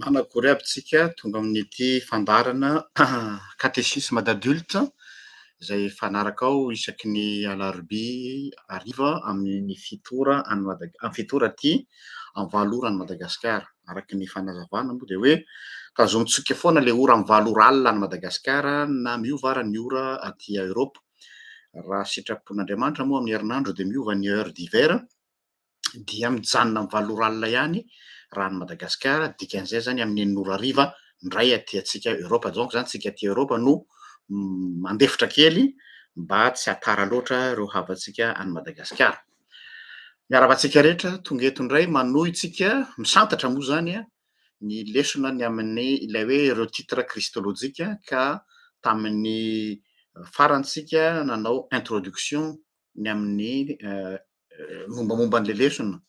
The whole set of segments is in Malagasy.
Managory aby tsika tonga amin'ity fandaharana catéchisme d'adulte izay fanarakao isaky ny alarobia hariva amin'ny fito ora any Madag- amin'ny fito ora aty amin'ny valo ora any Madagasikara. Araka ny fanazavana moa dia hoe tazontsika foana ilay ora amin'ny valo ora alina any Madagasikara na miova ara ny ora aty Eoropa. Raha sitrapon'Andriamanitra moa amin'ny herinandro dia miova ny heure d'hiver. dia mijanona amin'ny valo ora alina ihany raha any Madagasikara, dikan'izay izany amin'ny enina ora hariva indray aty antsika Eoropa, donc izany isika aty Eoropa no mandefitra kely mba tsy hatara loatra ireo havantsika any Madagasikara. Miarahaba antsika rehetra tonga eto indray manohy tsika misantatra moa izany ny lesona ny amin'ny ilay hoe ireo titre kristolojika ka tamin'ny farantsika nanao introduction ny amin'ny euh, mombamomba an'ilay lesona.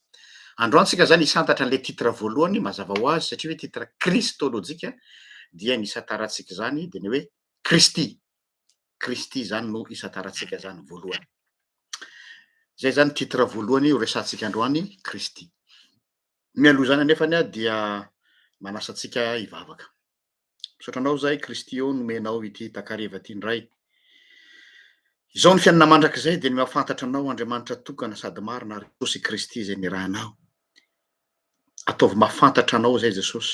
Androany tsika zany hisantatra an'ilay titre voalohany mazava ho azy satria hoe titre kristolojika dia ny isantarantsika izany dia ny hoe Kristy. Kristy zany no isantarantsika zany voalohany. Zay zany titre voalohany horesantsika androany Kristy. Mialoha izany anefany dia manasa antsika hivavaka. Misaotra anao zay Kristy ô nomenao ity takareva ty ndray. Izao ny fiainana mandrakizay dia ny mahafantatra anao Andriamanitra tokana sady marina ary Jesosy Kristy izay nirahanao. Ataovy mahafantatra anao izay Jesosy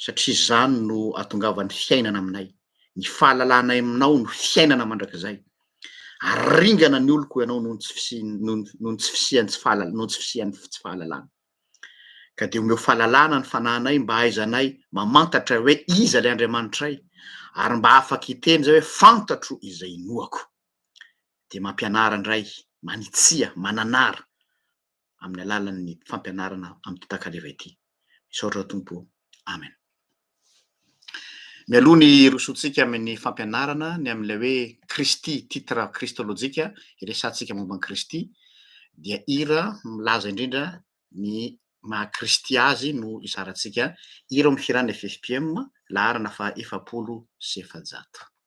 satria izany no atongavan'ny fiainana aminay. Ny fahalalanay aminao no fiainana mandrakizay. Aringana ny oloko ianao noho ny tsy fisian'ny noho ny tsy fisian'ny tsy fahalalana noho ny tsy fisian'ny tsy fahalalana. Ka dia omeo fahalalana ny fanahinay mba hahaizanay mamantatra hoe iza ilay Andriamanitray, ary mba afaka hiteny izay hoe fantatro izay inoako. Dia mampianara indray, manitsia, mananara amin'ny alalan'ny fampianarana amin'ity takaleva ity. Misaotra Tompo o. Amen. Mialoha ny hirosoantsika amin'ny fampianarana ny amin'ilay hoe Kristy, titre kristolojika hiresahantsika momba an'i Kristy, dia hira milaza indrindra ny maha Kristy Azy no hizarantsika. Hira ao amin'ny Hiran'ny FFPM, laharana faha efapolo sy efajato.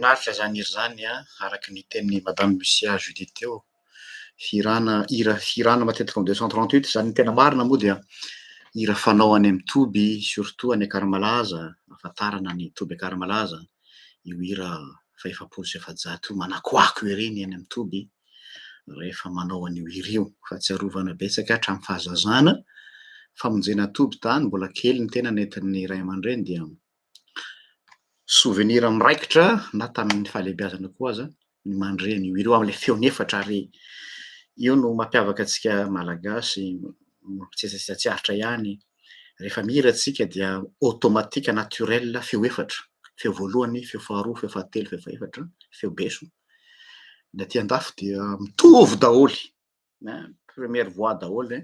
Mahafinaritra izany hira izany an! Araka ny tenin'i Madame Lucia Judy teo, hirana, hira hirana matetika en deux cent trente huit, izany ny tena marina moa dia hira fanao any amin'ny toby surtout any Akaramalaza, ahafantarana ny toby Akaramalaza, io hira fa efapolo sy efajato io manakoako ery ny eny amin'ny toby rehefa manao an'io hira io fahatsiarovana betsaka hatramin'ny fahazazana famonjena toby tany mbola kely ny tena nentin'ny iray aman-dreny dia souvenir miraikitra na tamin'ny fahalehibiazana koa aza ny mandre an'io hira io amin'ilay feony efatra ary io no mampiavaka antsika malagasy tsy tsy tsy aritra ihany rehefa mihira antsika dia automatique naturel feo efatra feo voalohany feo faharoa feo fahatelo feo fahefatra feo beso ny aty andafy dia mitovy daholo première voix daholo zay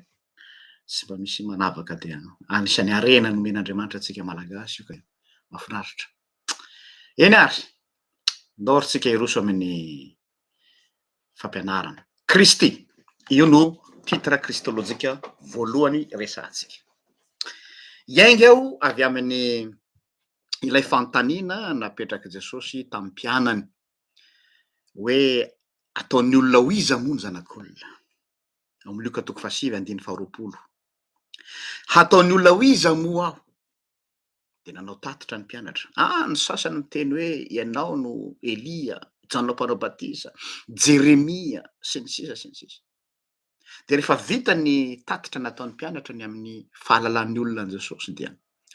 tsy mba misy manavaka dia anisan'ny harena nomen'Andriamanitra antsika malagasy io ka mahafinaritra eny ary ndao ry tsika hiroso amin'ny fampianarana kristy io no titre kristolojika voalohany resahantsika hiainga aho avy amin'ny ilay fanontaniana napetrak'i jesosy tamin'ny mpianany hoe ataon'ny olona ho iza moa ny zanak'olona? Ao amin'ny Lioka toko fahasivy andininy faharoapolo. Hataon'ny olona ho iza moa aho? Dia nanao tatitra ny mpianatra. Ah, ny sasany miteny hoe ianao no Elia, Jaona mpanao batisa, Jeremia, sy ny sisa sy ny sisa. Dia rehefa vita ny tatitra nataon'ny mpianatra ny amin'ny fahalalan'ny olona an'i Jesosy dia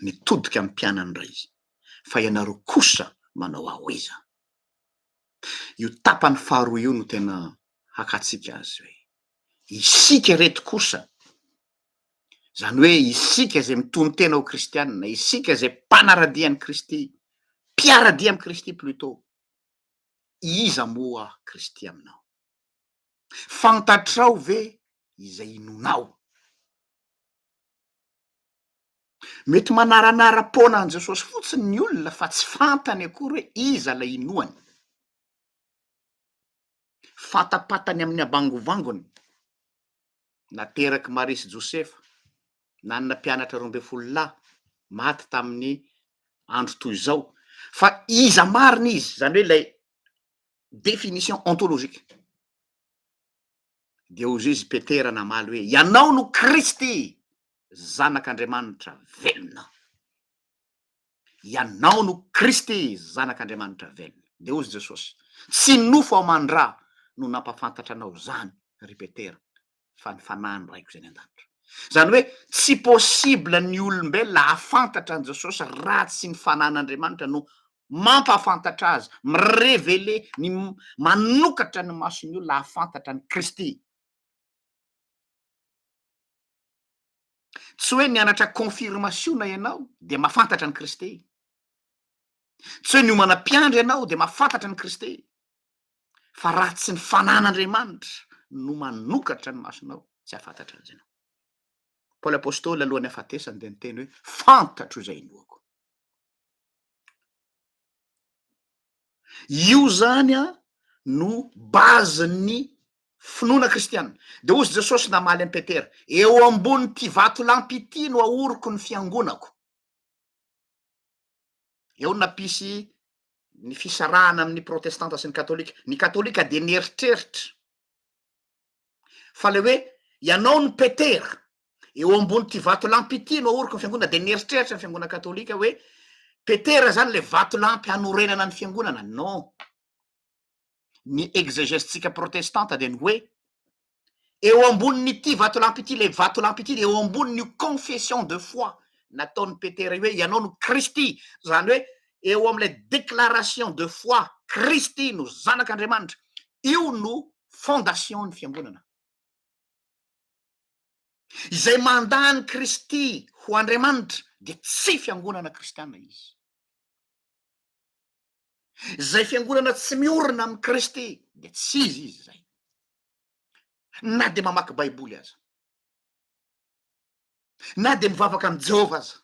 nitodika amin'ny mpianany indray izy. Fa ianareo kosa manao ahoiza? Io tapany faharoa io no tena hakatsika azy hoe isika ireto kosa Izany hoe isika izay mitonon-tena ho kristianina, isika izay mpanaradia an'i Kristy, mpiaradia amin'i Kristy plutôt. Iza moa Kristy aminao? Fantatrao ve izay inoanao? Mety manaranara-poana an'i Jesosy fotsiny ny olona fa tsy fantany akory hoe iza ilay inoany. Fatapatany amin'ny habangovangony, naterak'i Maria sy Josefa, nanana mpianatra roa ambin'ny folo lahy, maty tamin'ny andro toy izao, fa iza marina izy, izany hoe ilay définition ontologique. Dia hoy izy Petera namaly hoe, Ianao no Kristy, Zanak'Andriamanitra velona. Ianao no Kristy, Zanak'Andriamanitra velona. Dia hoy Jesosy, Tsy nofo aman-dra no nampafantatra anao izany, ry Petera, fa ny fanahin'ny Raiko izay any an-danitra. Izany hoe tsy possible ny olombelona hahafantatra an'i Jesosy raha tsy ny fanahin'Andriamanitra no mampahafantatra azy, mi-reveler, ny manokatra ny mason'ny olona hahafantatra an'i Kristy. Tsy hoe mianatra confirmation ianao dia mahafantatra an'i Kristy. Tsy hoe miomana mpiandry ianao dia mahafantatra an'i Kristy. fa raha tsy ny fanan'Andriamanitra no manokatra ny masonao tsy hahafantatra an'izay ianao. Paoly Apostoly alohan'ny hahafatesany dia niteny hoe fantatro izay inoako. Io zany a no bazin'ny finoana kristianina. Dia hozy Jesosy namaly an'i Petera, eo ambonin'ity vatolampy ity no ahoriko ny fiangonako. Eo no nampisy ny fisarahana amin'ny protestanta sy ny katolika. Ny katolika dia nieritreritra fa le hoe ianao no petera eo ambon'ity vatolampy ity no ahoriko ny fiangonana dia nieritreritra ny fiangonana katolika hoe petera zany le vatolampy hanorenana ny fiangonana. Non. ny exegèse-tsika protestanta dia ny hoe, eo ambonin'ity vatolampy ity, ilay vatolampy ity dia eo ambonin'io confession de foi nataon'i Petera io hoe ianao no Kristy, izany hoe eo amin'ilay déclaration de foi Kristy no Zanak'Andriamanitra, io no fondation-n'ny fiangonana. Izay mandà an'i Kristy ho Andriamanitra dia tsy fiangonana kristiana izy. Izay fiangonana tsy miorina amin'i Kristy dia tsy izy izy izay. Na dia mamaky Baiboly aza. Na dia mivavaka amin'i Jehovah aza.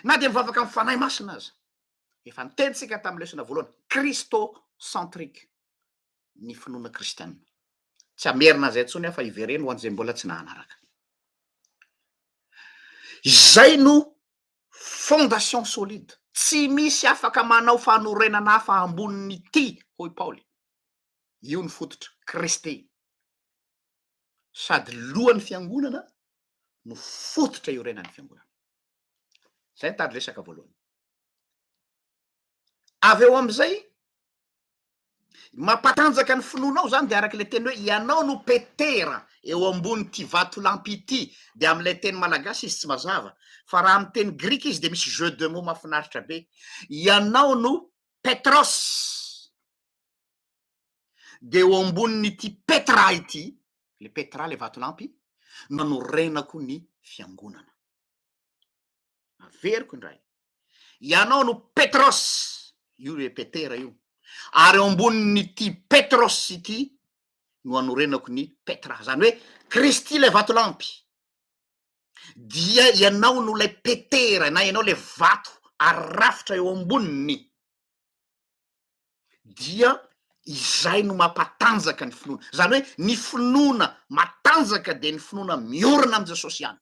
Na dia mivavaka amin'ny Fanahy Masina aza. Efa niteny isika tamin'ny lesona voalohany, Christocentrique ny finoana kristianina. Tsy hamerina an'izay intsony aho fa hivereno ho an'izay mbola tsy nahanaraka. Izay no fondation solide. Tsy misy afaka manao fanorenana hafa ambonin'ity, hoy i Paoly. Io ny fototra, Kristy. Sady lohan'ny fiangonana no fototra iorenan'ny fiangonana. Izay ny tady resaka voalohany. Avy eo amin'izay, mampatanjaka ny finoanao izany, dia araka ilay teny hoe ianao no Petera eo ambonin'ity vatolampy ity, dia amin'ilay teny malagasy izy tsy mazava, fa raha amin'ny teny grika izy dia misy jeu de mots mahafinaritra be, ianao no Petros, dia eo ambonin'ity Petra ity, ilay Petra ilay vatolampy, no hanorenako ny fiangonana. averiko indray ianao no petros io le petera io ary eo ambonin'ity petros ity no anorenako ny petra zany hoe kristy ilay vatolampy dia ianao no ilay petera na ianao le vato ary rafitra eo amboniny dia izay no mampatanjaka ny finoana, izany hoe ny finoana matanjaka dia ny finoana miorina amin'i Jesosy ihany.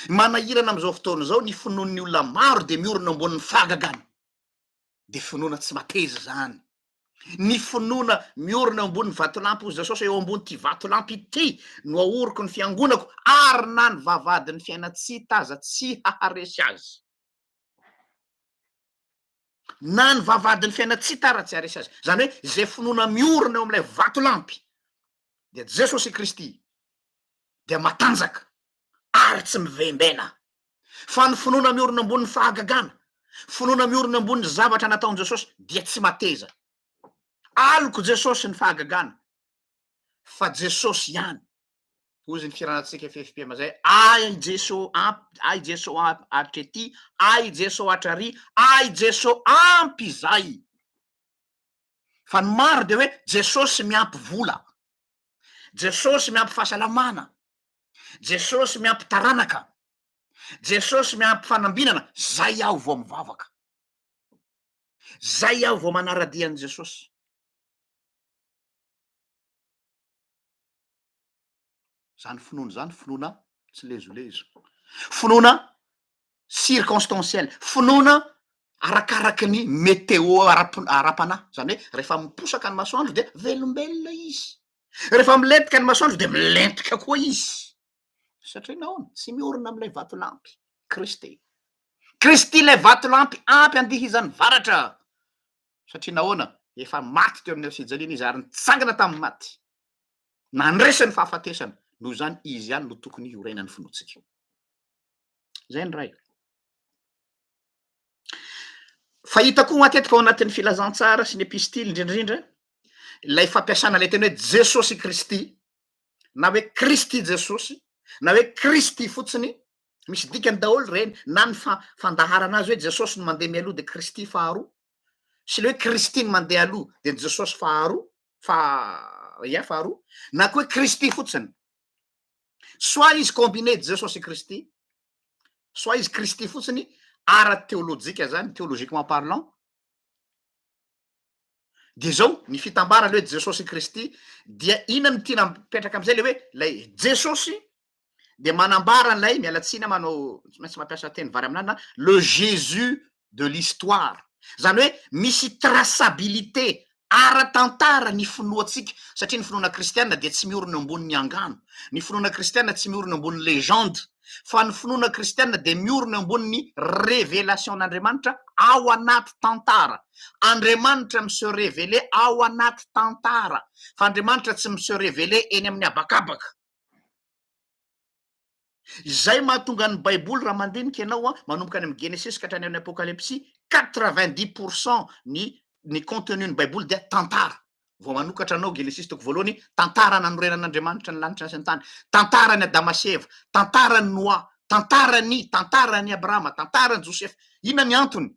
Manahirana amin'izao fotoana izao ny finoan'ny olona maro dia miorina eo ambonin'ny fahagagana. dia finoana tsy mateza izany. Ny finoana miorina eo ambonin'ny vatolampy, hoy Jesosy, eo ambon'ity vatolampy ity no ahoriko ny fiangonako, ary na ny vavahadin'ny fiaina tsy hita aza tsy haharesy azy. Na ny vavahadin'ny fiaina tsy hita ara tsy haharesy azy. Izany hoe izay finoana miorina eo amin'ilay vatolampy, dia Jesosy Kristy, dia matanjaka. ary tsy mivembena. Fa ny finoana miorina ambonin'ny fahagagana, finoana miorina ambonin'ny zavatra nataon'i Jesosy dia tsy mateza. Alok'i Jesosy ny fahagagana, fa Jesosy ihany. Hoy ny firanantsika FFPM izay, Ahy Jeso ampy, ahy Jeso ampy hatretỳ, ahy Jeso hatrarỳ, ahy Jeso ampy izay. Fa ny maro dia hoe Jesosy miampy vola, Jesosy miampy fahasalamana, Jesosy miampy taranaka, Jesosy miampy fanambinana, zay aho vao mivavaka, zay aho vao manara-dia an'i Jesosy. Zany finoana zany finoana tsy lezolezo, finoana circonstanciel, finoana arakaraky ny météo ara-panahy, zany hoe rehefa miposaka ny masoandro dia velombelona izy. Rehefa milentika ny masoandro dia milentika koa izy. Satria nahoana? Tsy miorina amin'ilay vatolampy, Kristy. Kristy ilay vatolampy ampy andihizan'ny varatra. Satria nahoana? Efa maty teo amin'ny fijaliana izy ary nitsangana tamin'ny maty. Nandresy ny fahafatesana. Noho izany izy ihany no tokony hiorenan'ny finoantsika. Izay ny ray. Fahita koa matetika ao anatin'ny filazantsara sy ny epistily indrindraindra ilay fampiasana ilay teny hoe Jesosy Kristy na hoe Kristy Jesosy na hoe Kristy fotsiny, misy dikany daholo ireny na ny fa- fandaharana azy hoe Jesosy no mandeha mialoha dia Kristy faharoa sy ilay hoe Kristy no mandeha aloha dia ny Jesosy faharoa fa ia faharoa na koa hoe Kristy fotsiny. Soit izy combiné Jesosy Kristy, soit izy Kristy fotsiny ara-teolojika zany, théologiquement parlant, Dia zao ny fitambarany hoe Jesosy Kristy dia inona no tiana mipetraka amizay le hoe lay Jesosy dia manambara an'ilay miala tsiny aho manao tsy maintsy mampiasa teny vary amin'anana le Jésus de l'histoire zany hoe misy traçabilité ara-tantara ny finoantsika satria ny finoana kristiana dia tsy miorina eo ambonin'ny angano ny finoana kristiana tsy miorina eo ambonin'ny legende fa ny finoana kristiana dia miorina eo ambonin'ny revelasion'Andriamanitra ao anaty tantara. Andriamanitra mi se reveler ao anaty tantara, fa Andriamanitra tsy mi se reveler eny amin'ny habakabaka. Izay mahatonga ny baiboly raha mandinika ianao an, manomboka any amin'ny genesis ka hatrany amin'ny apokalypsy, 90 pourcent ny ny contenu ny baiboly dia tantara. Vao manokatra anao, Genesisy toko voalohany, tantara nanorenan'Andriamanitra ny lanitra sy ny tany, tantaran'i Adama sy Eva, tantaran'i Noa, tantaran'i, tantaran'i Abrahama, tantaran'i Josefa. Inona ny antony?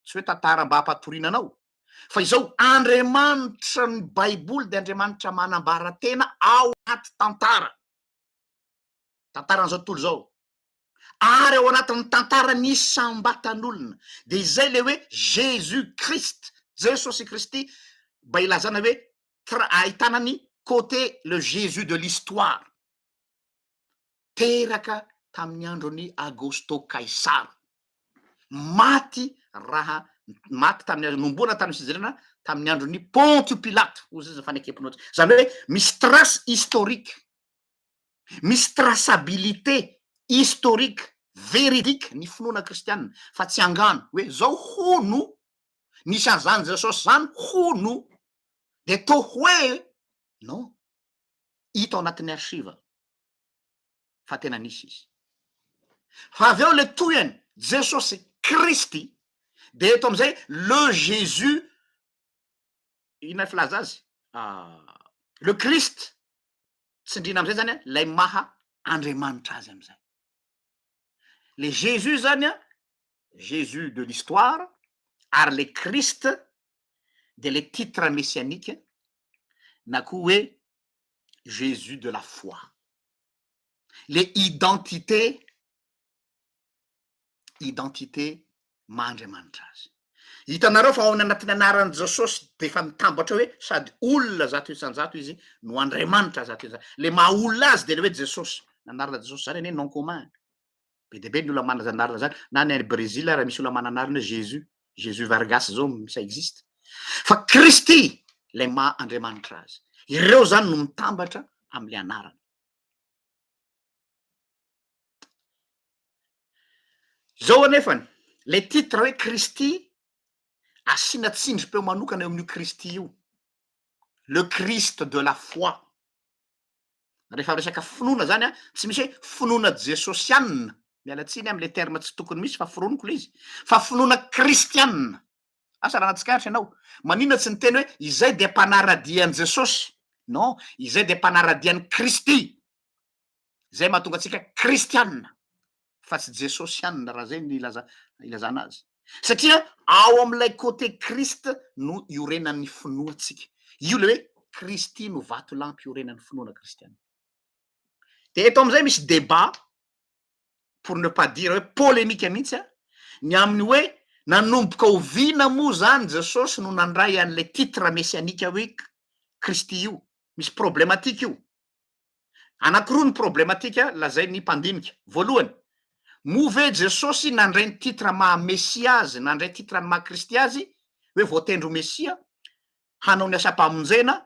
Tsy hoe tantara mba hampatoriana anao, fa izao, Andriamanitra, ny Baiboly dia Andriamanitra manambara tena ao anaty tantara. tantaran'izao tontolo izao ary ao anatin'ny tantaran'ny isam-batan'olona dia izay ilay hoe jesus christ jesosy kristy mba ilazana hoe tra- ahitana ny côté le jesus de l'histoire teraka tamin'ny andron'i agosto kaisara maty raha maty tamin'ny nomboana tamin'ny fijerena tamin'ny andron'ny pontio pilate hozy izy ny fanekemponao izany hoe misy trace historique Misy traçabilité historique, véridique ny finoana kristiana fa tsy angano hoe zao hono nisy an'izany Jesosy zany hono dia toa hoe non, hita ao anatin'ny archive fa tena nisy izy. Fa avy eo le tohiny Jesosy Kristy dia eto amin'izay le Jésus inona filaza azy? le Christ tsindriana amizay zany lay maha Andriamanitra azy amizay. Le Jesus zany a, Jesus de l'histoire ary le Christ de le titre messianique na koa hoe Jesus de la foi. Le identité identité maha Andriamanitra azy. Hitanareo fa ao anatin'ny anaran'i Jesosy dia efa mitambatra hoe sady olona zato isan-jato izy no Andriamanitra zato isan-jato. Le maha olona azy dia le hoe Jesosy. Anarana Jesosy zany anie nom commun. Be dia be ny olona manana anarana zany. Na any Brésil ary misy olona manana anarana hoe Jésus, Jésus Vargas zao ça existe. Fa Kristy ilay maha Andriamanitra azy. Ireo zany no mitambatra amin'ilay anarana. Izao anefany, ilay titre hoe Kristy, asiana tsindrim-peo manokana eo amin'io Kristy io, le Christ de la foi. Rehefa resaka finoana izany an, tsy misy hoe finoana jesosianina, miala tsiny amin'ilay terme tsy tokony misy fa foroniko ilay izy, fa finoana kristianina. Asa raha nahatsikaritra ianao, maninona tsy niteny hoe izay dia mpanara-dia an'i Jesosy? Non, izay dia mpanara-dia an'i Kristy. Izay mahatonga antsika kristianina, fa tsy jesosianina raha izay ny ilaza, ilazana azy. Satria ao amin'ilay côté Christ no iorenan'ny finoantsika. Io ilay hoe Kristy no vatolampy iorenan'ny finoana kristianina. Dia eto amin'izay misy débat pour ne pas dire hoe polemika mihitsy an, ny amin'ny hoe nanomboka oviana moa izany Jesosy no nandray an'ilay titre messianique hoe Kristy io? Misy problematika io. Anankiroa ny problematika lazain'ny mpandinika. Voalohany, moa ve Jesosy nandray ny titre maha Mesia azy, nandray titre ny maha Kristy azy, hoe voatendry ho Mesia, hanao ny asam-pamonjena,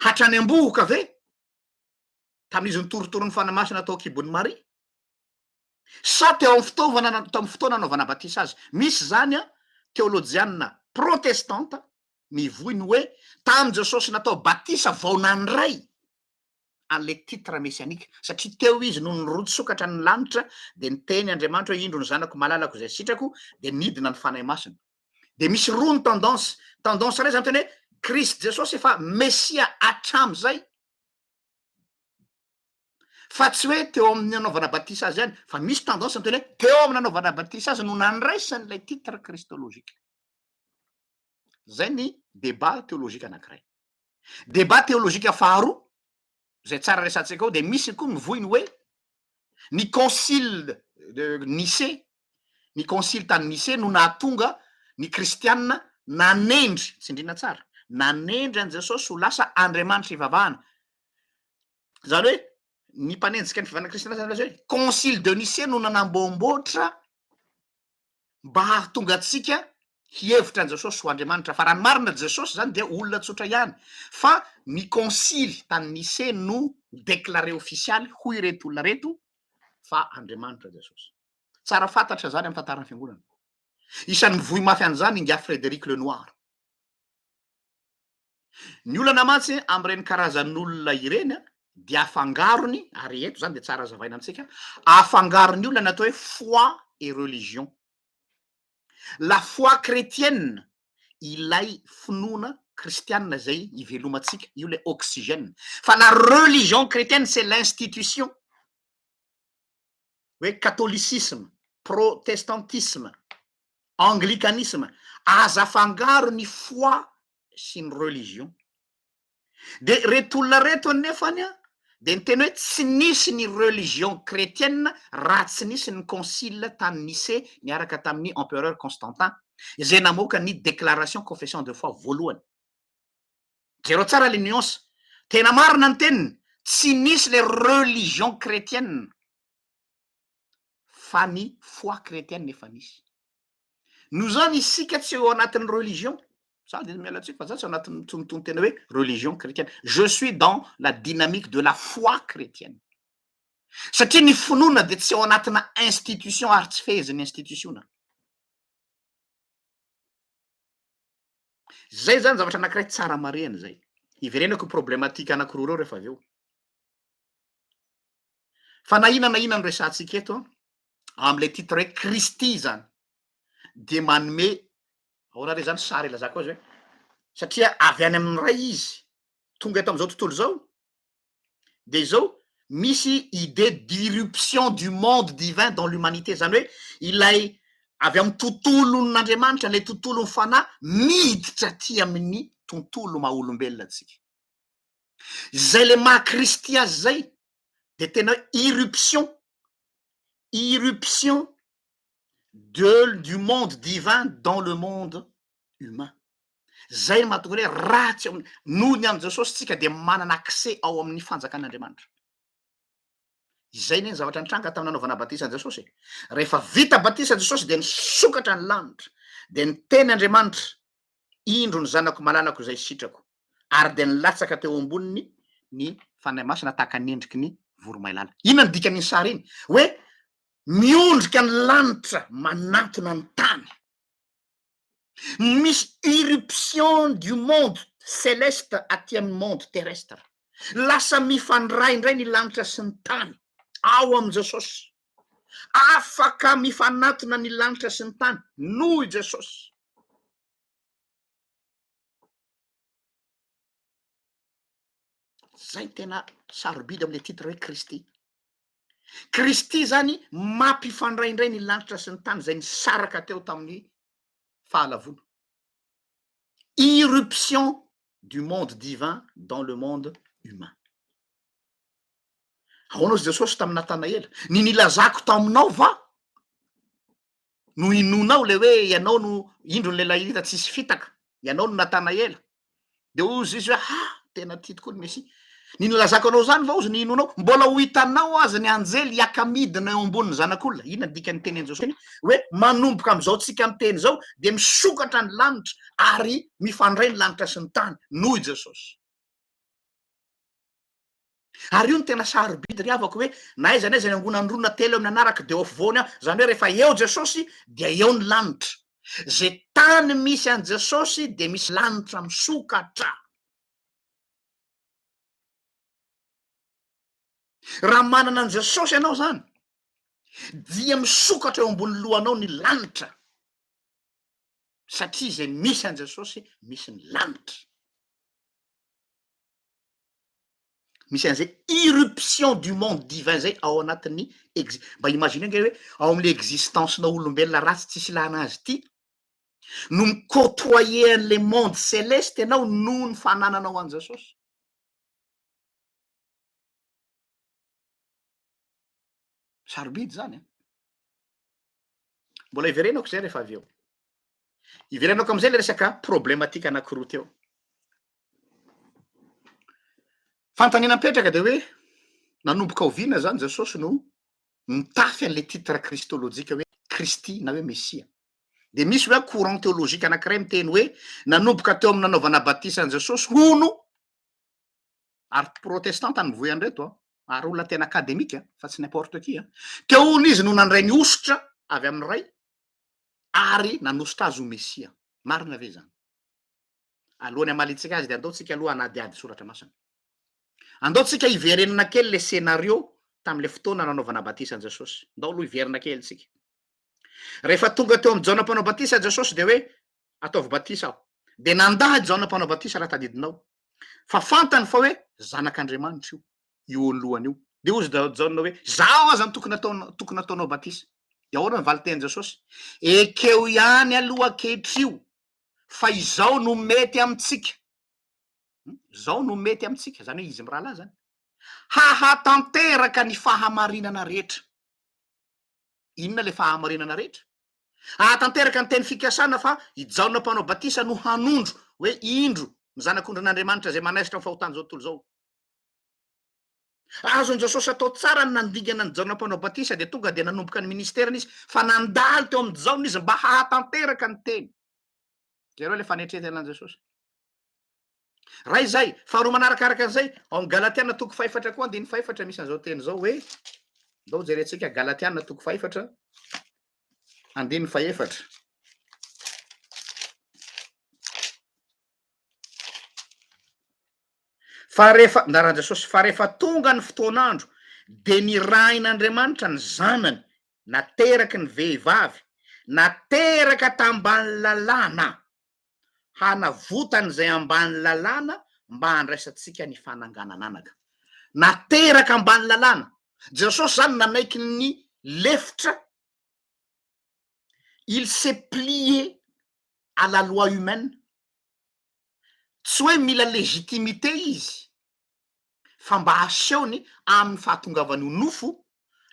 hatrany am-bohoka ve? tamin'izy nitorotoro ny fanahy masina tao an-kibon'i Maria? Sa teo amin'ny fitaovana na- tao amin'ny fotoana nanaovana batisa azy? Misy izany an, teolojianina protestanta mivoy ny hoe tamin'i Jesosy natao batisa vao nandray an'ilay titre messianique, satria teo izy no nirotsokatra ny lanitra dia niteny Andriamanitra hoe indro ny zanako malalako izay sitrako dia nidina ny fanahy masina. Dia misy roa ny tendance, tendance iray izany tena hoe Kristy Jesosy efa Mesia hatramin'izay, fa tsy hoe teo amin'ny nanaovana batisa azy ihany fa misy tendance ny tena hoe teo amin'ny nanaovana batisa azy no nandraisany ilay titre kristologique zay ny debat théologique anankiray debat théologique faharoa zay tsara resantsika ao dia misy koa ny voiny hoe ny concile de Nicée Ny Konsily tany Nicée no nahatonga ny Kristianina nanendry, tsindriana tsara, nanendry an'i Jesosy ho lasa Andriamanitra ivavahana. Izany hoe ny mpanenjika ny fivavahana kristiana izany lazaina hoe Konsily de Nicée no nanamboamboatra mba hahatonga antsika hihevitra an'i Jesosy ho Andriamanitra. Fa raha ny marina, Jesosy izany dia olona tsotra ihany. Fa ny Konsily tany Nicée no ni-declarer ofisialy hoy ireto olona ireto fa Andriamanitra Jesosy. Tsara fantatra izany amin'ny tantaran'ny Fiangonana. Isan'ny mivoy mafy an'izany ingahy Frédéric Lenoir. Ny olana mantsy amin'ireny karazan'olona ireny dia afangarony, ary eto izany dia tsara azavaina amintsika, afangarony olona ny atao hoe foi et religion. La foi chrétienne ilay finoana kristianina izay ivelomantsika, io ilay oxygène. Fa la religion chrétienne c'est l'institution. hoe catholicisme, protestantisme, anglicanisme, aza afangaro ny foi sy ny religion. Dia reto olona reto anefany an, dia niteny hoe tsy nisy ny religion kretienina raha tsy nisy ny concile tany Nicée niaraka tamin'ny empereur Constantin izay namoaka ny déclaration confession de foi voalohany. Jereo tsara le nuance. Tena marina ny teniny, tsy nisy le religion chretienne fa ny foi chretienne efa nisy. Noho izany isika tsy eo anatin'ny religion, za de miala tsiny fa za tsy ao anatin'ny tsy miton tena hoe religion chretienne, je suis dans la dynamique de la foi chretienne. Satria ny finoana de tsy ao anatina institution ary tsy fehezin'ny institutiona. Zay zany zavatra anankiray tsara marihana zay. Hiverenako io problematika anankiroa reo rehefa avy eo. Fa na ina na ina no resahantsika eto amle titre hoe Kristy zany dia manome ahoana re zany sary ilazako azy hoe satria avy any amin'ny Ray izy tonga eto amin'izao tontolo izao dia izao, misy idée d'irruption du monde divin dans l'humanité, izany hoe ilay avy amin'ny tontolon'Andriamanitra, ilay tontolon'ny fanahy miditra aty amin'ny tontolo maha olombelona antsika. Izay ilay maha Kristy azy izay dia tena hoe irruption, irruption de, du monde divin dans le monde humain. Zay no mahatonga anay raha tsy amin'ny noho ny an'i Jesosy tsika dia manana accès ao amin'ny fanjakan'Andriamanitra. Izay anie ny zavatra nitranga tamin'ny nanaovana batisa an'i Jesosy e. Rehefa vita batisa Jesosy dia nisokatra ny lanitra dia niteny Andriamanitra, indro ny zanako malalako izay sitrako ary dia nilatsaka teo amboniny ny Fanahy Masina tahaka ny endriky ny voromailala. Inona ny dikan'iny sary iny? Hoe miondrika ny lanitra manantona ny tany. Misy irruption du monde celeste aty amin'ny monde terrestre. Lasa mifandray indray ny lanitra sy ny tany ao amin'i Jesosy. Afaka mifanatona ny lanitra sy ny tany noho i Jesosy. zay tena sarobidy amle titre hoe Kristy, Kristy zany mampifandray ndray ny lanitra sy ny tany zay nisaraka teo tamin'ny fahalavoana, irruption du monde divin dans le monde humain. Ahoana ozy Jesosy tamin'i Natanaela, ny nilazako taminao va? no inoanao le hoe ianao no indro ny lehilahy hita tsy hisy fitaka, ianao no Natanaela. Dia hoy izy hoe ha, tena ity tokoa ny Mesia. Ny nilazako anao izany va hozy no inoanao? Mbola ho hitanao aza ny anjely hiaka midina eo ambonin'ny Zanak'olona. Inona ny dikan'ny tenin'i Jesosy hoe manomboka amin'izao tsika miteny izao dia misokatra ny lanitra ary mifandray ny lanitra sy ny tany, noho i Jesosy. Ary io no tena sarobidy ry havako hoe na aiza na aiza ny angonan'ny roa na telo eo amin'ny anarako dia eo afovoany aho, izany hoe rehefa eo Jesosy dia eo ny lanitra. Izay tany misy an'i Jesosy dia misy lanitra misokatra. Raha manana an'i Jesosy ianao izany dia misokatra eo ambony lohanao ny lanitra. satria izay misy an'i Jesosy misy ny lanitra. Misy an'izay irruption du monde divin zay ao anatin'ny exi- mba imaginer ange hoe ao amin'ilay existence-na olombelona ratsy tsisy ilana azy ity no mi-côtoyer an'ilay monde céleste ianao noho ny fanananao an'i Jesosy. Sarobidy zany an! Mbola hiverenako izay rehefa avy eo. Hiverenako amin'izay le resaka problematika anankiroa teo. Fanontaniana mipetraka dia hoe nanomboka oviana zany Jesosy no mitafy an'le titre kristolojika hoe Kristy na hoe Mesia. Dia misy hoe courant théologique anankiray miteny hoe nanomboka teo amin'ny nanaovana batisa an'i Jesosy hono Ary protestanta nivoy an'ireto an! Ary olona tena academique an! Fa tsy n'importe qui an! Teo hono izy no nandray ny hosotra avy amin'ny Ray ary nanosotra azy ho Mesia. Marina ve izany? Alohan'ny hamaliantsika azy dia andao tsika aloha hanadihady soratra masina. Andao tsika hiverenana kely le scénario tamin'ilay fotoana nanaovana batisa an'i Jesosy. Andao aloha hiverina kely tsika. Rehefa tonga teo amin'i Jaona mpanao batisa Jesosy dia hoe Ataovy batisa aho. Dia nandà i Jaona Mpanao Batisa, raha tadidinao, fa fantany fa hoe Zanak'Andriamanitra io, io eo ny lohany io. Dia hoy i Jaona hoe, Izaho aza no tokony ataonao, tokony ataonao batisa. Dia ahoana ny valin-tenin'i Jesosy? Ekeo ihany aloha ankehitrio fa izao no mety amintsika. Izao no mety amintsika, izany hoe izy mirahalahy izany. Hahatanteraka ny fahamarinana rehetra. Inona ilay fahamarinana rehetra? Ahatanteraka ny teny fikasana fa i Jaona Mpanao Batisa no hanondro hoe indro ny Zanak'ondrin'Andriamanitra izay manaisotra ny fahotan'izao tontolo izao. Raha azon'i Jesosy atao tsara ny nandingana an'i Jaona Mpanao Batisa dia tonga dia nanomboka ny ministerany izy fa nandalo teo amin'i Jaona izy mba hahatanteraka ny teny. Jereo ilay fanetrentenan'i Jesosy. Ray izay, faharoa manaraka araka an'izay, ao amin'ny Galatiana toko fahefatra koa andininy fahefatra misy an'izao teny izao hoe, ndao jerentsika Galatiana toko fahefatra andininy fahefatra. Fa rehefa, ndaran'i Jesosy, fa rehefa tonga ny fotoan'andro, dia nirahin'Andriamanitra ny zanany, nateraky ny vehivavy, nateraka tambany lalàna. hanavotany izay ambany lalàna mba handraisantsika ny fananganan'anaka. Nateraka ambany lalàna. Jesosy izany nanaiky ny lefitra, il s'est plié à la loi humaine. Tsy hoe mila légitimité izy fa mba asehony amin'ny fahatongavany ho nofo,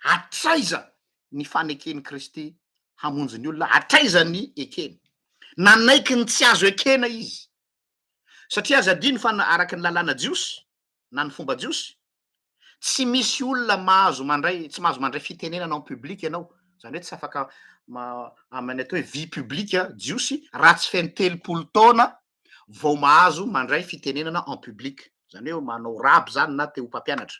hatraiza ny faneken'i Kristy hamonjy ny olona, hatraiza ny ekeny. Nanaiky ny tsy azo ekena izy, satria aza adino fa na araka ny lalàna jiosy na ny fomba jiosy, tsy misy olona mahazo mandray, tsy mahazo mandray fitenenana en public ianao, izany hoe tsy afaka amin'ny atao hoe vie publique jiosy raha tsy feno telopolo taona vao mahazo mandray fitenenana en public, zany hoe manao rab zany na te ho mpampianatra.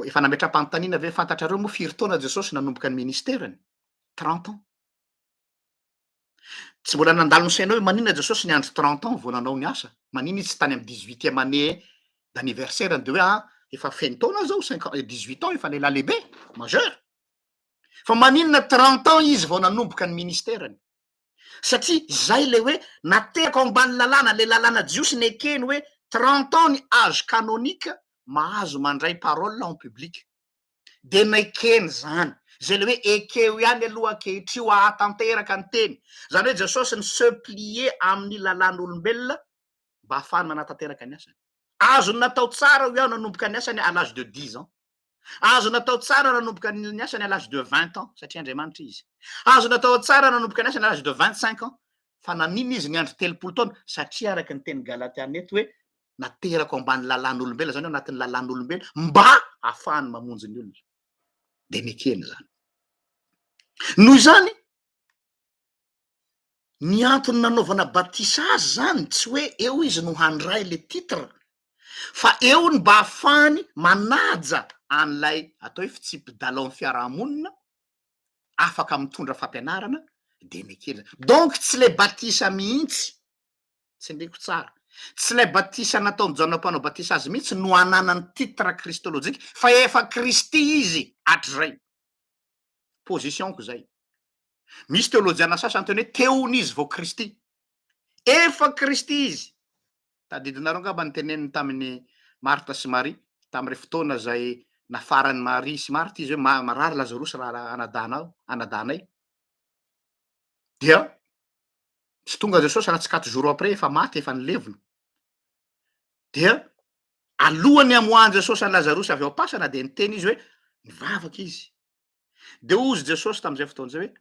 Efa nametram-panontaniana ve fantatrareo moa firy taona Jesosy nanomboka ny ministerany? Trente ans. Tsy mbola nandalo ny sainao hoe maninona Jesosy niandry trente ans vao nanao ny asa? Maninona izy tsy tany amin'ny dix huitième année d'anniversaire-ny dia hoe ah efa feno taona zao cinquante eh, dix huit ans efa lehilahy lehibe, majeur. Fa maninona trente ans izy vao nanomboka ny ministerany? satria zay le hoe natehako ambany lalàna le lalàna jiosy nekeny hoe trente ans ny age canonique mahazo mandray parole en public de nekeny zany zay le hoe ekeo ihany aloha ankehitrio ahatanteraka ny teny zany hoe jesosy ny se plier amin'ny lalàn'olombelona mba hahafahany manatanteraka ny asany azony natao tsara hoy aho nanomboka ny asany à l'age de dix ans Azo natao tsara nanomboka ny asany à l'âge de 20 ans satria Andriamanitra izy. Azo natao tsara nanomboka ny asany à l'âge de 25 ans fa nanina izy niandry telopolo taona satria araka ny teny Galatiana eto hoe naterako ambany lalàn'olombelona zany anatin'ny lalàn'olombelona mba hahafahany mamonjy ny olona. Dia nekeny zany. Noho izany ny antony nanaovana batisa azy zany tsy hoe eo izy no handray le titre fa eo ny mba hahafahany manaja an'ilay atao hoe fitsipi-dalaon'ny fiarahamonina, afaka mitondra fampianarana dia nekena. Donc tsy ilay batisa mihitsy, tsindriako tsara, tsy ilay batisa nataon'i Jaona Mpanao Batisa azy mihitsy no ananany titre kristolojika fa efa Kristy izy hatrizay. Position-ko izay. Misy teolojiana sasany tena hoe teon'izy vao Kristy. Efa Kristy Izy. Tadidinareo angamba ny teneniny tamin'i Marta sy Maria, tamin'irey fotoana izay nafaran'i Maria sy Marta Izy hoe, ma, marary Lazarosy ra, ra, anadahinao, anadahinay. Dia tsy tonga Jesosy raha tsy quatre jours après, efa maty, efa nilevina. Dia alohan'ny hamoahan'i Jesosy an'i Lazarosy avy ao am-pasana dia niteny Izy hoe, nivavaka Izy. Dia hozy Jesosy tamin'izay fotoana izay hoe,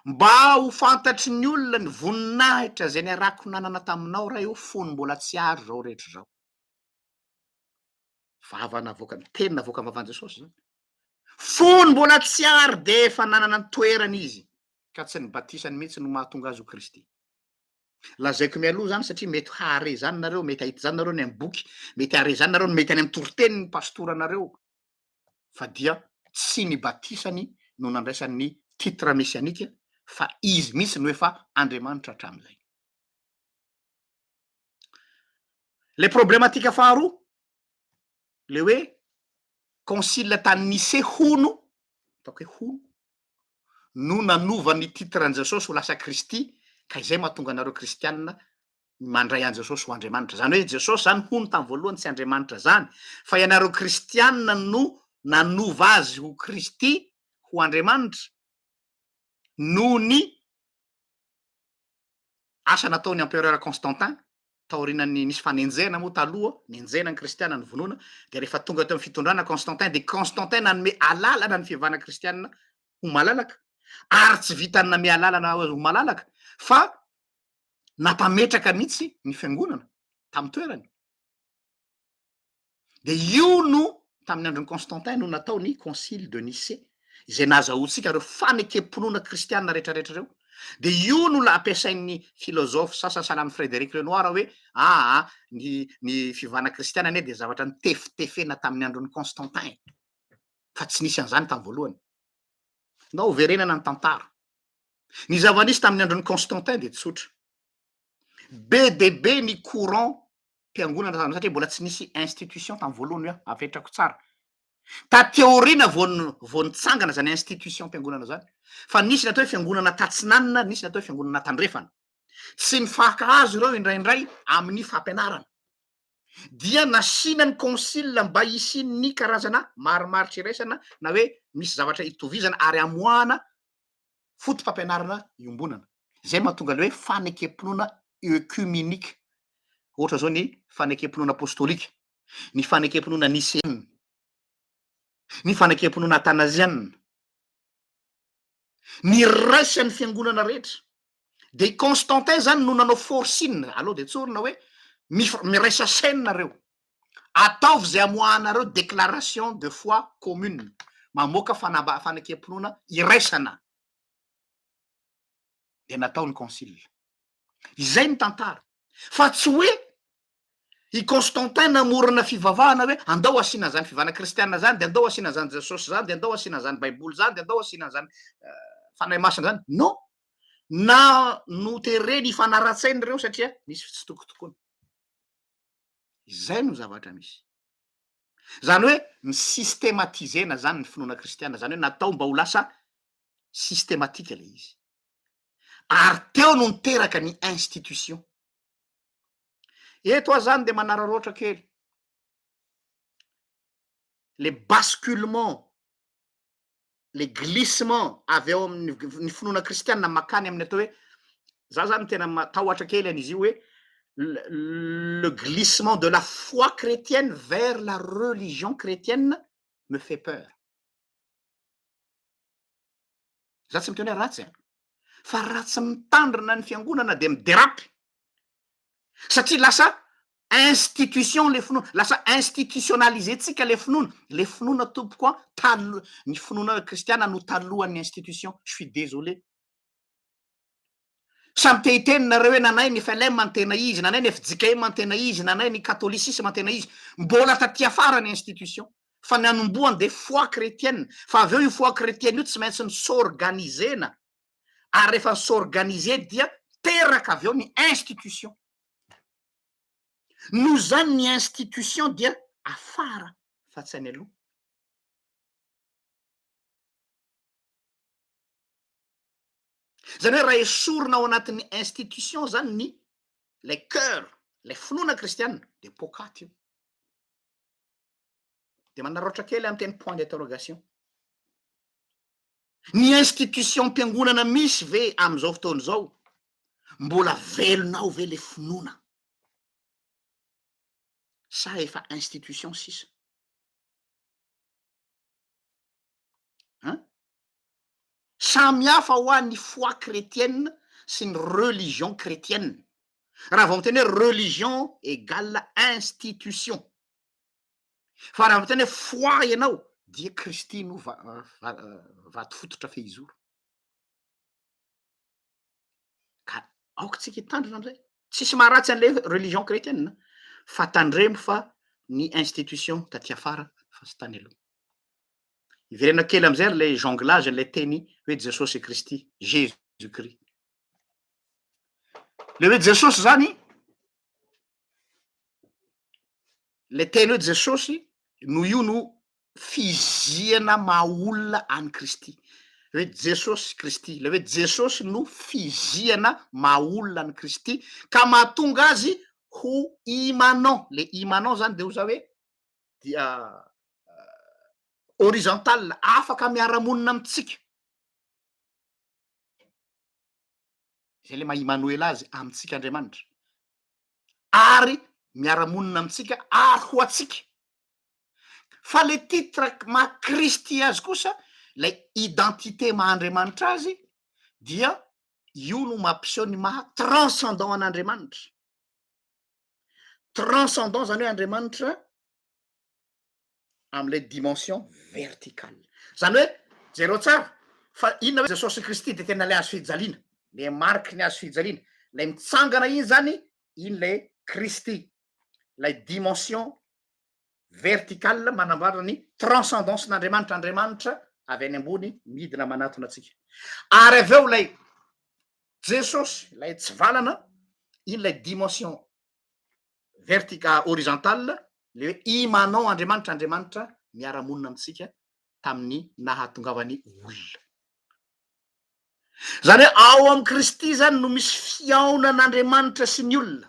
Mba ho fantatry ny olona ny voninahitra izay niarako nanana taminao, Ray o, fony mbola tsy ary izao rehetra izao. Vava navoaka, teny navoaka ny vavan'i Jesosy izany. Fony mbola tsy ary dia efa nanana ny toerany izy, ka tsy ny batisany mihitsy no mahatonga azy ho Kristy. Lazaiko mialoha izany satria mety hahare izany nareo, mety hahita izany nareo any amin'ny boky, mety hahare izany nareo, mety any amin'ny toriteniny ny pastoranareo, fa dia tsy ny batisany no nandraisany ny titre messianique fa izy mihitsy no efa Andriamanitra hatramin'izay. Ilay problematika faharoa, ilay hoe concile tany Nicée hono, ataoko hoe hono, no nanova ny titre an'i Jesosy ho lasa Kristy ka izay mahatonga anareo kristianina mandray an'i Jesosy ho Andriamanitra. Izany hoe Jesosy izany hono tamin'ny voalohany tsy Andriamanitra izany, fa ianareo kristianina no nanova azy ho Kristy, ho Andriamanitra, noho ny asa nataon'ny empereur Constantin, taorianan'ny nisy fanenjehana moa taloha, nenjehina ny kristiana, novonoina, dia rehefa tonga teo amin'ny fitondrana Constantin, dia Constantin nanome alalana ny fivavahana kristianina ho malalaka, ary tsy vitan'ny nanome alalana ho malalaka, fa nampametraka mihitsy ny fiangonana tamin'ny toerany. Dia io no tamin'ny andron'i Constantin no natao ny concile de Nicée izay nahazahoantsika ireo fanekem-pinoana kristiana rehetrarehetra ireo. Dia io no ampiasain'ny filozofa sasany sahala amin'i Frédéric Renoir hoe aa ny ny fivavahana kristiana anie dia zavatra nitefitefena tamin'ny andron'i Constantin fa tsy nisy an'izany tamin'ny voalohany. Nao verenana ny tantara. Ny zava-nisy tamin'ny andron'i Constantin dia tsotra. Be dia be ny courant mpiangonana tamin'izany satria mbola tsy nisy institution tamin'ny voalohany hoe avetrako tsara. Taty aoriana vao n- vao nitsangana izany institution mpiangonana izany. Fa nisy ny atao hoe fiangonana tatsinanana, nisy ny atao hoe fiangonana tandrefana. Tsy nifankahazo ireo indraindray amin'ny fampianarana. Dia nasiana ny concile mba hisian'ny karazana marimaritra iraisana na hoe misy zavatra itovizana ary amoahana foto-pampianarana iombonana, izay mahatonga ilay hoe fanekem-pinoana œcuménique, ohatra izao ny fanekem-pinoana apôstôlika, ny fanekem-pinoana niseana, ny fanekem-pinoana athanasiana, niraisan'ny fiangonana rehetra. dia i Constantin zany no nanao forcing, aleo dia tsorina hoe miraisa chaine nareo, ataovy zay amoahanareo déclaration de foi commune, mamoaka fanamba fanekempinoana iraisana, dia natao ny concile, izay ny tantara fa tsy hoe I Constantin namorona fivavahana hoe andao asiana an'izany fivavahana kristiana izany, dia andao asiana an'izany Jesosy izany, dia andao asiana an'izany Baiboly izany, dia andao asiana an'izany Fanahy Masina izany. Non! Na notereny hifanara-tsaina ireo satria nisy fitsitokotokona. Izay no zavatra misy. Izany hoe ni-systematiser-na izany ny finoana kristiana, izany hoe natao mba ho lasa systematika ilay izy. Ary teo no niteraka ny institution. Eto aho zany dia manararaotra kely le basculement le glissement avy ao amin'ny finoana kristianina makany amin'ny atao hoe za zany tena matahotra kely an'izy io hoe le glissement de la foi chrétienne vers la religion chrétienne me fait peur za tsy miteny hoe ratsy an fa raha tsy mitandrina ny fiangonana de miderapy satria lasa institution le finoana lasa institutionalise tsika le finoana le finoana tompoko a talo ny finoana kristiana no talohan'ny institution je suis désolé Samy te hiteny nareo hoe nanay ny FLM ny tena izy, nanay ny fjkm ny tena izy, nanay ny catholicisme ny tena izy. Mbola taty afara ny institution. Fa ny anombohany dia foi chretienne. Fa avy eo io foi chretienne io tsy maintsy ny s'organiser-na. Ary rehefa ny s'organiser dia teraka avy eo ny institution. Noho izany ny institution dia afara fa tsy any aloha. Izany hoe raha esorina ao anatin'ny institution izany ny ilay cœur, ilay finoana kristianina dia poakaty io. Dia manararaotra kely amin'ny teny point d'interrogation. Ny institution-piangonana misy ve amin'izao fotoana izao mbola velona ao ve le finoana? Sa efa institution sisa? Hein? Samy hafa ho'a ny foi chrétienne sy ny religion chrétienne. Raha vao miteny hoe religion égale institution. Fa raha miteny hoe foi ianao dia Kristy no va- va- vato fototra fehizoro. ka aoka tsika hitandrina an'izay, tsisy maharatsy an'ilay hoe religion chretienne an, fa tandremo fa ny institution taty afara fa tsy tany aloha. Hiverena kely amin'izay ary ilay jonglage an'ilay teny hoe Jesosy Kristy, Jesus Christ. Ilay hoe Jesosy izany, ilay teny hoe Jesosy no io no fizihana maha olona an'i Kristy. Ry Jesosy Kristy, ilay hoe Jesosy no fizihana maha olona an'i Kristy ka mahatonga azy ho immanent. Ilay immanent izany dia hoy za hoe dia horizontal, afaka miara-monina amintsika. Izay ilay maha Imanoela azy amintsika Andriamanitra. Ary miara-monina amintsika ary ho antsika. Fa le titre maha Kristy azy kosa, ilay identité maha Andriamanitra azy dia io no mampiseho ny maha transcendant an'Andriamanitra. Transcendant zany hoe Andriamanitra amin'ilay dimension verticale. Zany hoe, jereo tsara fa inona hoe Jesosy Kristy dia tena ilay hazo fijaliana, le mariky ny hazo fijaliana, ilay mitsangana iny zany, iny le Kristy ilay dimension verticale manambara ny transcendance-n'Andriamanitra, Andriamanitra avy any ambony midina manatona antsika. Ary avy eo ilay Jesosy, ilay tsivalana, iny ilay dimension vertica horizontale, le hoe imanao Andriamanitra, Andriamanitra miara-monina amintsika tamin'ny nahatongavany olona. Zany hoe ao amin'i Kristy zany no misy fihaonan'Andriamanitra sy ny olona.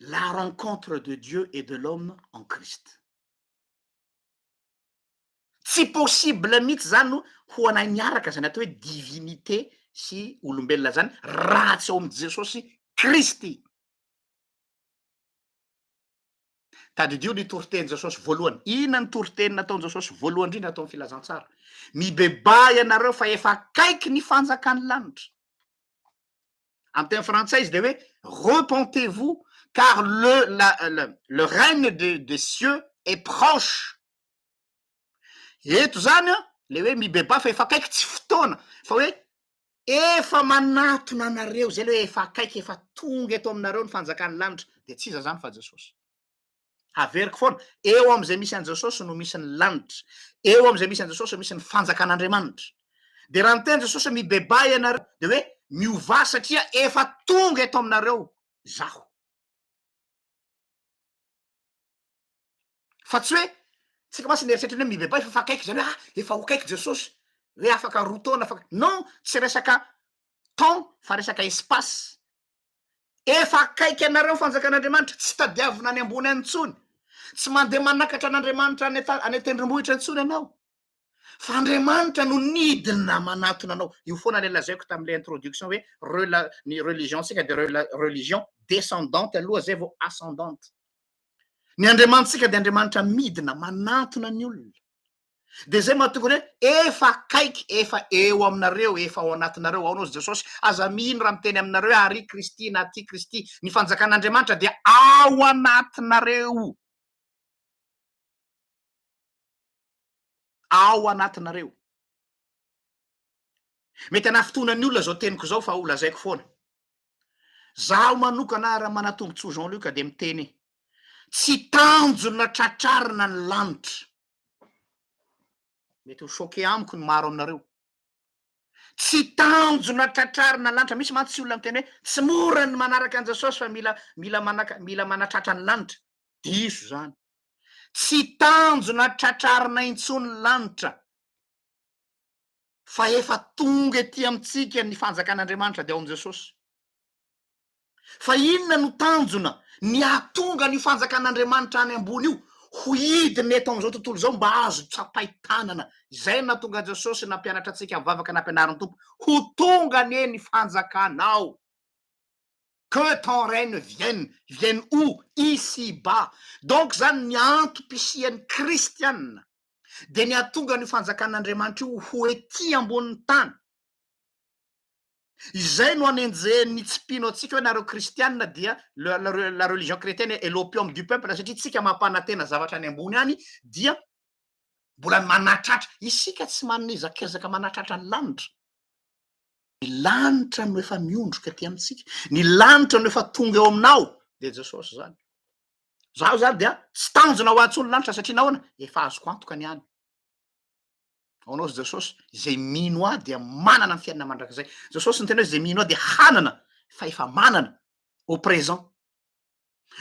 la rencontre de Dieu et de l'homme en Christ. Tsy possible mihitsy zany ho anay miaraka zany atao hoe divinité sy olombelona zany raha tsy ao amin'i Jesosy Kristy. Tadidio ny toritenin'i Jesosy voalohany. Inona ny toriteny nataon'i Jesosy voalohany indrindra atao amin'ny filazantsara? Mibebaha ianareo fa efa akaiky ny fanjakan'ny lanitra. Amin'ny teny frantsay izy dia hoe repentez-vous car le, la, la, le règne des, des cieux est proche. Eto izany an, le hoe mibebà fa efa akaiky tsy fotoana fa hoe efa manatona anareo izay le hoe efa akaiky, efa tonga eto aminareo ny fanjakan'ny lanitra, dia tsy iza izany fa Jesosy. Haveriko foana, eo amin'izay misy an'i Jesosy no misy ny lanitra, eo amin'izay misy an'i Jesosy no misy ny fanjakan'Andriamanitra. Dia raha niteny Jesosy mibebaha ianareo dia hoe miovà satria efa tonga eto aminareo izaho. Fa tsy hoe tsika mantsy ny eritreritra hoe mibebaha efa akaiky izany hoe ah efa ho akaiky Jesosy, hoe afaka roa taona afaka non, tsy resaka temps fa resaka espace. Efa akaiky anareo ny fanjakan'Andriamanitra, tsy tadiavina any ambony any intsony, tsy mandeha manakatra an'Andriamanitra any any an-tendrombohitra intsony ianao, fa Andriamanitra no nidina manatona anao, io foana ilay lazaiko tamin'ilay introduction hoe rela ny religion-tsika dia rela religion descendante aloha zay vao ascendante, ny Andriamanitsika dia Andriamanitra midina manatona ny olona. de zay mahatonga ny hoe efa akaiky efa eo aminareo efa ao anatinareo ao nao jesosy aza mino raha miteny aminareo hoe ary kristy na ty kristy ny fanjakan'andriamanitra dia ao anatinareo ao anatinareo Mety hanafitohina ny olona izao teniko izao fa ho lazaiko foana. Zaho manokana raha manatombontsoa Jean Luc dia miteny tsy tanjona tratrarina ny lanitra. Mety ho choqué amiko ny maro aminareo. Tsy tanjona tratrarina ny lanitra, misy mantsy olona miteny hoe tsy mora ny manaraka an'i Jesosy fa mila mila manaka mila manatratra ny lanitra. Diso izany. Tsy tanjona tratrarina intsony ny lanitra. fa efa tonga ety amintsika ny fanjakan'Andriamanitra dia ao amin'i Jesosy. Fa inona no tanjona ny hahatonga an'io fanjakan'Andriamanitra any ambony io ho hidina eto amin'izao tontolo izao mba azo tsapain-tanana? Izay no nahatonga an'i Jesosy nampianatra antsika amin'ny vavaka nampianarin'ny Tompo, Ho tonga anie ny fanjakanao, que ton règne vienne, vienne où? Ici bas. Donc izany ny antom-pisian'ny kristiana. dia ny hahatonga an'io fanjakan'Andriamanitra io ho ety ambonin'ny tany. Izay no anenjehin'ny tsy mpino antsika hoe nareo kristianina dia la religion chrétienne est l'opium du peuple satria tsika mampanantena zavatra any ambony any dia mbola manatratra. Isika tsy manana ezakezaka manatratra ny lanitra. Ny lanitra no efa miondroka aty amintsika. Ny lanitra no efa tonga eo aminao dia Jesosy izany. Zaho zany dia tsy tanjona ho ahy tsony lanitra satria nahoana efa azoko antoka ny any. Ho anao Jesosy izay mino ahy dia manana ny fiainana mandrakizay. Jesosy niteny hoe izay mino ahy dia hanana fa efa manana au présent.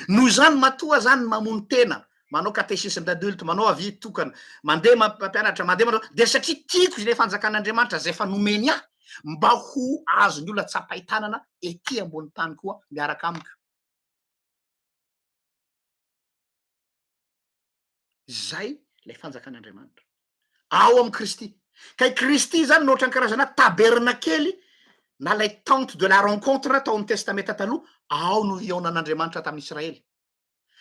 Noho izany matoa zany mamono tena, manao catéchisme d'adulte, manao avis tokana, mandeha mampianatra, mandeha manao dia satria tiako ilay fanjakan'Andriamanitra izay efa nomeny ahy mba ho azon'ny olona tsapain-tanana ety ambonin'ny tany koa miaraka amiko. Izay ilay fanjakan'Andriamanitra ao amin'i Kristy. Ka i Kristy izany no ohatran'ny karazana tabernakely na ilay tente de la rencontre tao amin'ny Testamenta Taloha, ao no hihaonan'Andriamanitra tamin'i Israely.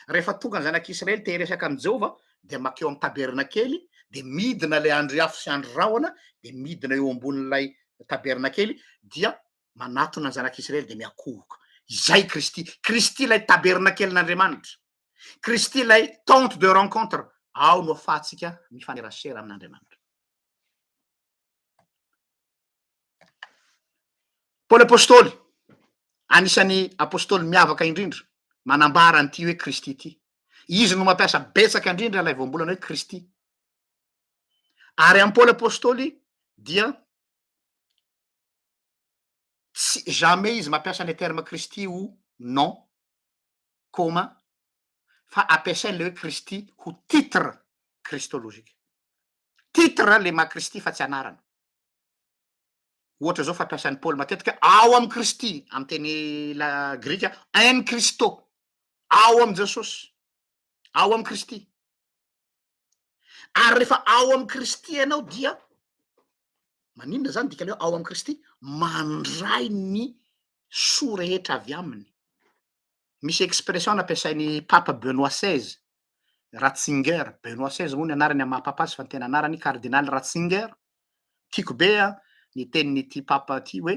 Rehefa tonga ny zanak'Israely te hiresaka amin'i Jehovah, dia mankeo amin'ny tabernakely, dia midina ilay andry afo sy andry rahona, dia midina eo ambonin'ilay tabernakely, dia manatona ny zanak'i Israely dia miakohoka. Izay i Kristy. Kristy ilay tabernakelin'Andriamanitra. Kristy ilay tente de rencontre. Ao no ahafahantsika mifanerasera amin'Andriamanitra. Paoly Apôstôly, anisan'ny apôstôly miavaka indrindra, manambara an'ity hoe Kristy ity. Izy no mampiasa betsaka indrindra ilay voambolana hoe Kristy. Ary amin'i Paoly Apôstôly dia tsy jamais izy mampiasa le terme Kristy ho nom commun fa ampiasainy le hoe Kristy ho titre kristologique. Titre le maha Kristy fa tsy anarana. Ohatra zao fampiasan'i Paoly matetika ao amin'i Kristy amin'ny teny la grika en Christo, ao amin'i Jesosy, ao amin'i Kristy. Ary rehefa ao amin'i Kristy ianao dia, maninona zany dikany hoe ao amin'i Kristy? Mandray ny soa rehetra avy aminy. Misy expression nampiasain'i Papa Benoît seize, Ratzinger, Benoît seize moa ny anarany amin'ny maha Papa azy fa ny tena anarany Cardinal Ratzinger, tiako be an, ny tenin'ity Papa ity hoe,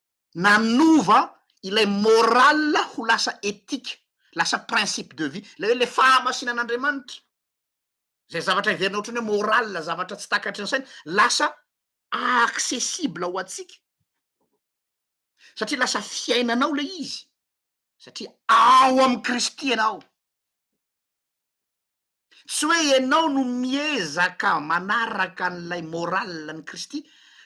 Nanova ilay morale ho lasa ethique, lasa principe de vie, ilay hoe ilay fahamasinan'Andriamanitra, izay zavatra heverina ohatran'ny hoe morale, zavatra tsy takatry ny saina, lasa accessible ho antsika, satria lasa fiainanao ilay izy, satria ao amin'i Kristy ianao. Tsy hoe ianao no miezaka manaraka an'ilay morale an'i Kristy,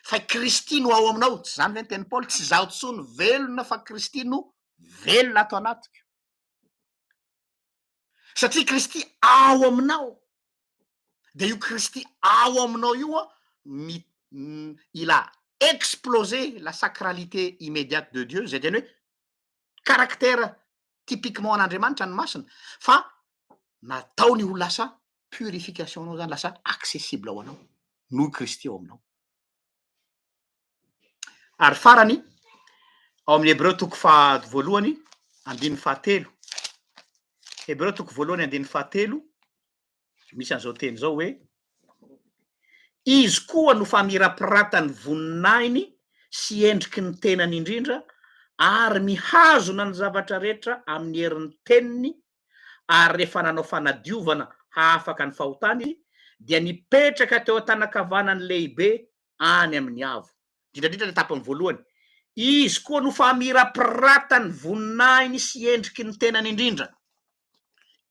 fa i Kristy no ao aminao. Tsy izany ve ny tenin'i Paoly, tsy izaho intsony velona fa Kristy no velona ato anatiko. Satria Kristy ao aminao, dia io Kristy ao aminao io an, mi- m- il a explosé la sacralité immédiate de Dieu, izay teny hoe caractère typiquement an'Andriamanitra ny masina fa nataony ho lasa purification anao zany lasa accessible ho anao noho i Kristy ao aminao. Ary farany ao amin'ny Hebreo toko faha voalohany andininy fahatelo. Hebreo toko voalohany andininy fahatelo misy an'izao teny izao hoe izy koa no famirapiratan'ny voninahiny sy endriky ny tenany indrindra ary mihazona ny zavatra rehetra amin'ny herin'ny teniny, ary rehefa nanao fanadiovana hahafaka ny fahotana izy, dia nipetraka teo an-tanan-kavanany lehibe any amin'ny avo. Indrindrandrindra ilay tapany voalohany, izy koa no famirapiratan'ny voninahiny sy endriky ny tenany indrindra.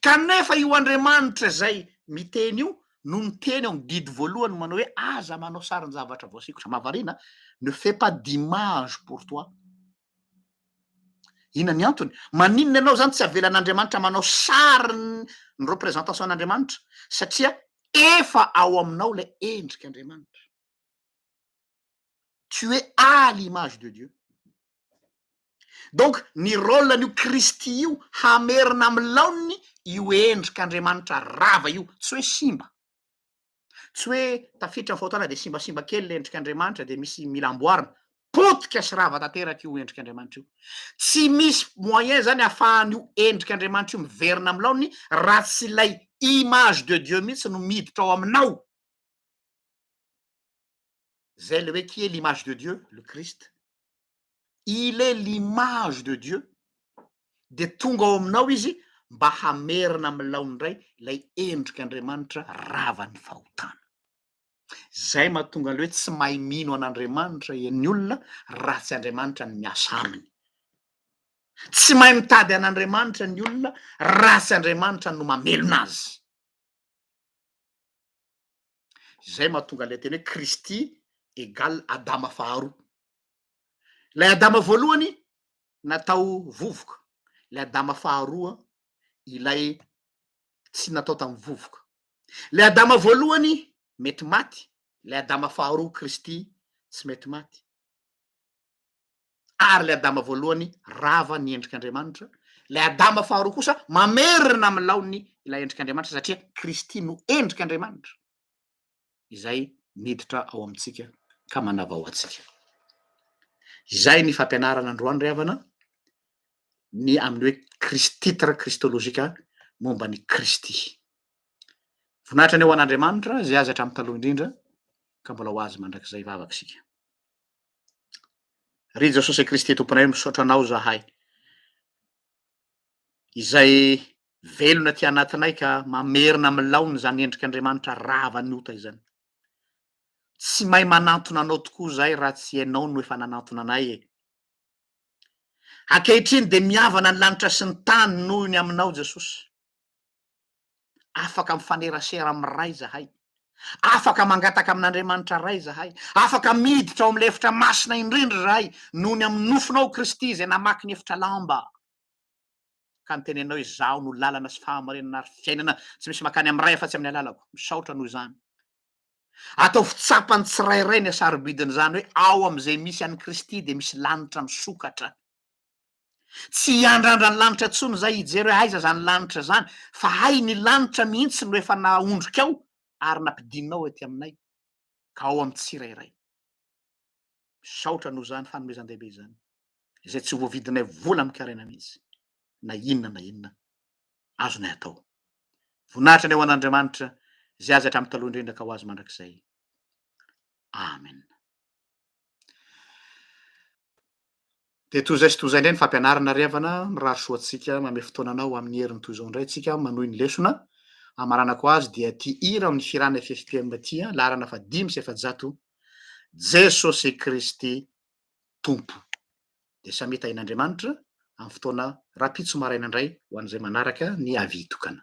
Kanefa io Andriamanitra izay miteny io no niteny ao amin'ny Didy voalohany manao hoe aza manao sarin-javatra voasikotra. Mahavariana, ne fais pas d'image pour toi. Inona ny antony? Maninona ianao izany tsy avelan'Andriamanitra manao sary ny représentation an'Andriamanitra? Satria efa ao aminao ilay endrik'Andriamanitra. tu es à l'image de Dieu donc ny rôle an'io Kristy io hamerina amin'ny laoniny io endrik'Andriamanitra rava io tsy hoe simba tsy hoe tafiditra ny fahotana dia simbasimba kely ilay endrik'Andriamanitra dia misy mila amboarina potika sy rava tanteraka io endrik'Andriamanitra io tsy misy moyen zany ahafahan'io endrik'Andriamanitra io miverina amin'ny laoniny raha tsy ilay image de Dieu mihitsy no miditra ao aminao zay le hoe qui est l'image de Dieu? Le Christ. Il est l'image de Dieu de tonga ao aminao izy mba hamerina amin'ny laoniny indray ilay endrika Andriamanitra ravan'ny fahotana. Zay mahatonga le hoe tsy mahay mino an'Andriamanitra ny olona raha tsy Andriamanitra ny miasa aminy. Tsy mahay mitady an'Andriamanitra ny olona raha tsy Andriamanitra no mamelona azy. Izay mahatonga ilay teny hoe Kristy egal Adama faharoa. Ilay Adama voalohany natao vovoka, ilay Adama faharoa ilay tsy natao tamin'ny vovoka. Ilay Adama voalohany mety maty, ilay Adama faharoa Kristy tsy mety maty. ary ilay Adama voalohany rava ny endrik'Andriamanitra, ilay Adama faharoa kosa mamerina amin'ny laoniny ilay endrik'Andriamanitra satria Kristy no endrik'Andriamanitra izay miditra ao amintsika ka manavao antsika. Izay ny fampianarana androany ry havana, ny amin'ny hoe Christitre Christologique momba ny Kristy. Voninahitra ny ho an'Andriamanitra, izay azy hatramin'ny taloha indrindra, ka mbola ho azy mandrakizay vavaka isika. Ry Jesosy Kristy Tomponay misaotra Anao zahay izay velona aty anatinay ka mamerina amin'ny laony izany endrika Andriamanitra rava ny ota izany. Tsy mahay manantona Anao tokoa zahay raha tsy Ianao no efa nanantona anay e. Ankehitriny dia mihavana ny lanitra sy ny tany noho ny Aminao Jesosy. Afaka mifanerasera amin'ny Ray izahay. Afaka mangataka amin'Andriamanitra Ray izahay. Afaka miditra ao amin'ilay efitra masina indrindra izahay noho ny amin'ny nofonao Kristy izay namaky ny efitra lamba ka nitenenanao hoe Izaho no lalana sy fahamarinana ary fiainana, tsy misy makany amin'ny Ray afa-tsy amin'ny alalako. Misaotra noho izany. Ataovy tsapan'ny tsirairay ny hasarobidin'izany hoe ao amin'izay misy an'i Kristy dia misy lanitra misokatra. Tsy hiandrandra ny lanitra intsony izay hijery hoe aiza izany lanitra izany, fa hay ny lanitra mihitsy no efa nahondrikao ary nampidinao ety aminay, ka ao amin'ny tsirairay. Misaotra noho izany fanomezan-dehibe izany, izay tsy voavidinay vola amin-karena mihitsy, na inona na inona azonay atao. Voninahitra ny ho an'Andriamanitra, izay azy hatramin'ny taloha indrindra ka ho azy mandrakizay. Amena. Dia toy izay sy toy izay indray ny fampianarana ry havana, mirary soa antsika, manome fotoana anao amin'ny heriny toy izao indray isika manohy ny lesona, hamaranako azy dia ity hira amin'ny hirana FFPM ity an, laharana faha dimy sy efajato, Jesosy Kristy Tompo. Dia samia tahian'Andriamanitra amin'ny fotoana rahampitso maraina indray ho an'izay manaraka ny avi-tokana.